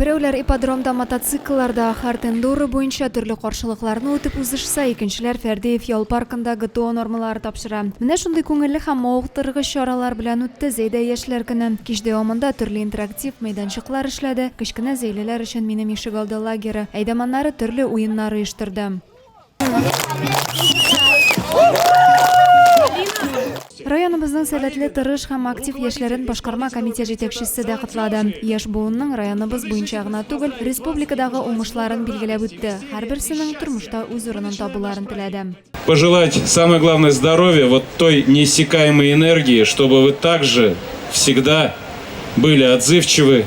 Берәүләр ипподромда мотоциклларда, Хард-эндуро буенча төрле каршылыкларны үтеп узышса, икенчеләр Фәрдеев ял паркында ГТО нормалары тапшыра. Менә шундый күңелле һәм мавыктыргыч чаралар белән үтте Зәйдә яшьләр көне. Кич дәвамында төрле интерактив мәйданчыклар эшләде, кечкенә зәйлеләр өчен Минем ишегалды лагеры әйдәманнары төрле уеннар оештырды. Районыбызның сәләтле, тырыш һәм актив яшьләрен башкарма комитет җитәкчесе дә котлады. Яшь буынның районыбыз буенча гына түгел, республикадагы уңышларын билгеләп үтте. Һәрберсенең тормышта үз урынын табуларын теләде. Пожелать самое главное здоровья, вот той неиссякаемой энергии, чтобы вы также всегда были отзывчивы,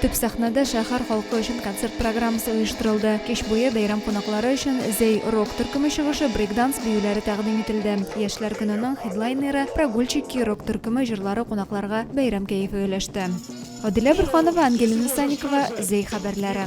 Төп сәхнәдә шәһәр халкы өчен концерт программасы оештырылды. Кич буе бәйрәм кунаклары өчен Зәй рок төркеме чыгышы, брейкданс биюләре тәкъдим ителде. Яшьләр көненең хедлайнеры Прогульщики рок төркеме җырлары кунакларга бәйрәм кәефе өләште. Адилә Борһанова, Ангелина Санникова, Зәй хәбәрләре.